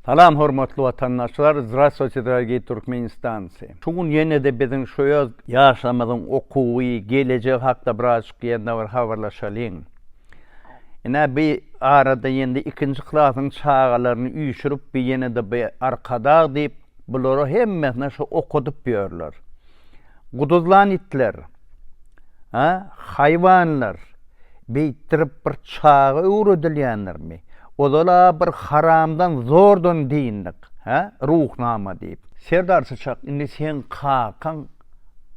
Salam hormatly watandaşlar Zdrastvoyte dorogiý Turkmenistance Şu gün ýenede biziň şu öz ýaşlarymyzyň okuwy gelejegi hakda birazjyk ýene bir habarlaşalyň ine bi arada ýene ikinji klasyň çagalaryny üýşürip bi ýenede bi arkadag diýip bulara hemmesine şu okadyp ýörler Guduzlan itler, a, haýwanlar beýtdirip bir çaga öwredilýändirmi? Ozal-a bir haramdan zordan dyndyk, hä, Ruhnama diýip. Serdar çaçak, indi seň kakaň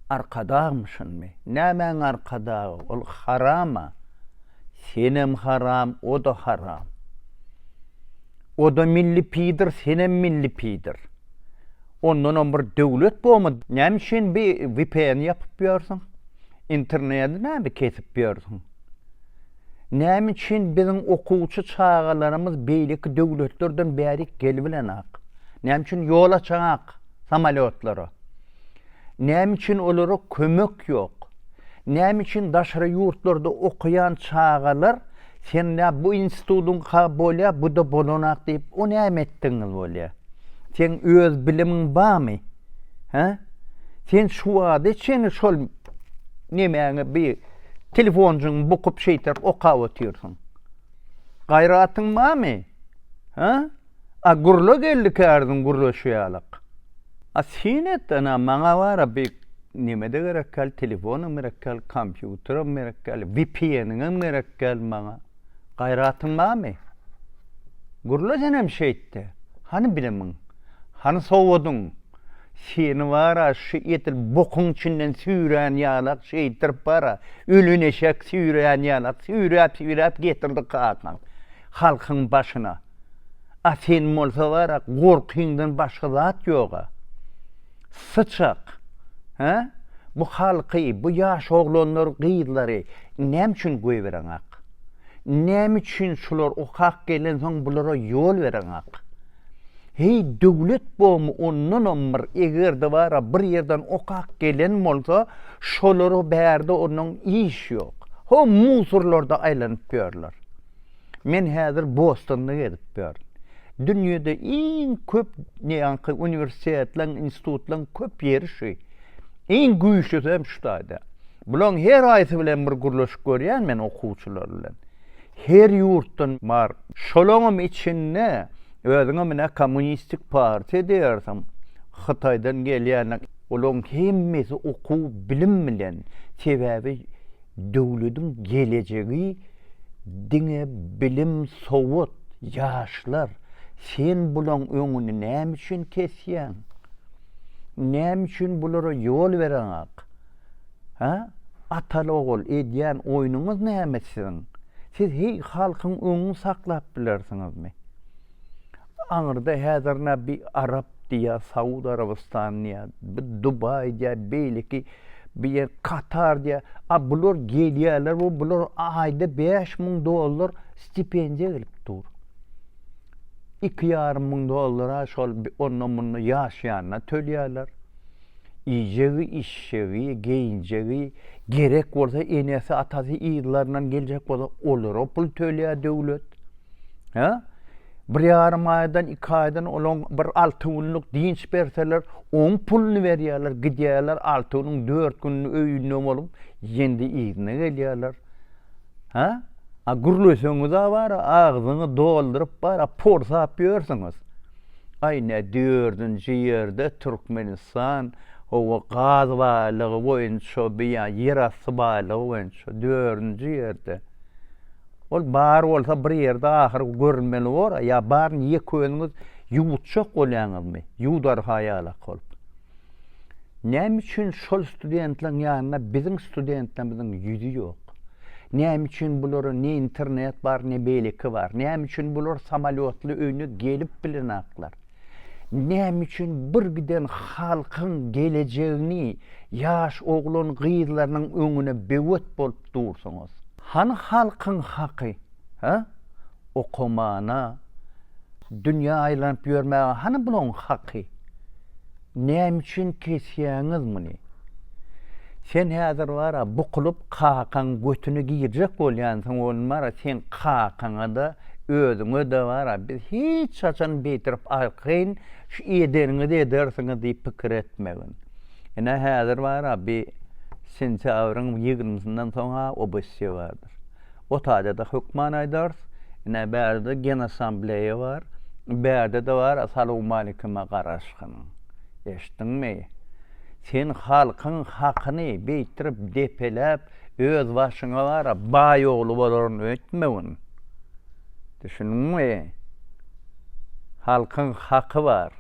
Arkadagmyşynmy? Nämäň Arkadagy? Ol haram-a. Senem haram, o-da haram. O-da milli piýdir, senem milli piýdir. Ondanam bir döwlet bomy näme üçin bi vpn ýapyp ýörsüň? Internedi näme kesip ýörsüň? Näme üçin biziň okuwçy çagalarymyz beýleki döwletlerden bärik gelibilenok? Näme üçin ýol açaňok samolýotlara? Näme üçin olara kömek ýok? Näme üçin daşary ýurtlarda okaýan çagalar Sen nä bu institutyňka bolýa, bu-da bolanak diýip, o näme etdigiňiz bolýa? Seň öz bilimiň barmy? Hä? Sen şu wagta çenli şol nemäňi bi telefonjygyňy bukup şeýtip okap otyrsyň. Gaýratyň barmy? Hä? A gurla geldi kärdiň gurlaşy ýalak. A syn et ana maňa wara bi nemede gerek gal telefonam gerek gal kompýuteram gerek gal vpnňam gerek gal maňa gaýratyň barmy gurla senem şeýtde hany bilimiň hany sowadyň seni wara şu edil bokuň içinden süýrän ýalak şeýdirip wara ölen eşek süýrän ýalak süýräp süýräp getirdi kakaň halkyň başyna. A sen bolsa bara gorkyňdan başga zat ýoga. Syçak. Hä? Bu halky, bu ýaş oglanlary, gyzlary näme üçin goýbereňak? Näme üçin şular okap gelensoň bulara ýol bereňak? Heý döwlet bomy ondanam bir egerde bara bir ýerden okap gelen bolsa şolara bärde ondan iş ýok. Ho musurlarda aýlanyp ýörler. Men häzir Bostonda gezip ýörün. Dünýede iň köp ýaňky uniwersitetleriň, institutlaryň köp ýeri şu. Iň güýçlüsi hem şu taýda. Bularyň her haýsy bilen bir gürleşip görýän men okuwçylar bilen. Her ýurtdan bar. Şolaňam içinde özüňem ine kommunistik partiýa diýersiň. Hytaýdan gelýänler. Olaryň hemmesi okuw, bilim bilen. Sebäbi Döwlediň gelejegi diňe bilim sowat ýaşlar sen bulaň öňüni näme üçin kesýäň näme üçin bulara ýol bereňak ha atal ogul edýän oýnuňyz näme siziň siz heý halkyň öňüňi saklap bilersiňizmi Aňyrda häzir nä bir arap diýýär, Saud Arabystany diýýär, bir Dubaý diýýär, beýleki bir ýer Katar diýýär. A bular gelýärler we bular aýda bäş müň dollar stipendiýa gelip dur. Iki ýarym müň dollara şol onda-munda ýaşaýanyna tölýärler. Iýjegi, içjegi, geýinjegi, gerek bolsa enesi-atasy yzlaryndan geljek bolsa olara pul tölýär döwlet. Hä? Bir ýarym aýdan, iki aýdan olaň bir alty günlük dynç berseler, oň puluny berýärler, gidýärler, alty günüň dört gününi öýünde bolup, ýendi yzyna gelýärler. Hä? A gürleseňiz-ä bara, agzyňy dolduryp bara porsap ýörsüňiz. Aý, ne dördünji ýerde Türkmenistan, hawa, gaz baýlygy boýunça, bu ýa ýerasty baýlygy boýunça dördünji ýerde. Ol bar bolsa bir ýerde ahyr görünmeli bor-a, ýa baryny ýeköniňiz ýuwutjak bolýaňyzmy, ýuwdar-ha ýalak bolup. Näme üçin şol studentleriň ýanynda biziň studentlerimiziň ýüzi ýok? Näme üçin bulara ne internet bar, ne beýleki bar? Näme üçin bular samolýotly öýüne gelip bilenaklar? Näme üçin birgiden halkyň gelejegini ýaş oglan gyzlarynyň öňüne böwet bolup dursuňyz? Hany halkyň haky? Hä? Okamana, dünýä aýlanyp ýörmäge hany bulaň haky? Näme üçin kesýäňiz muny? Sen häzir bar-a bukulyp kakaň götüne girjek bolýansyň ony bar-a seň kakaňa-da, özüňe-de bar-a biz hiç haçan beýtirip arkaýyn şu edeniňizi edersiňiz diýip pikir etmegin. Ine häzir bar-a bi sentýabryň ýigrimisyndan soň-a obesyýa bardyr. O taýda-da hökman aýdarys. Ine, bärde-de Genassambleýa bar. Bärde-de bar Assalamualykuma garaşgyn. Eşitdiňmi? Sen halkyň hakyny beýtdirip depeläp, öz başyňa bar-a baý ogly bolaryn öýtmegin. Düşündiňmi? Halkyň haky bar.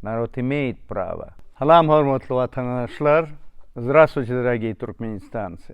Narod imeýit prawa. Salam hormatly watandaşlar! Zdrastwuçe, dragiý Türkmenistancy!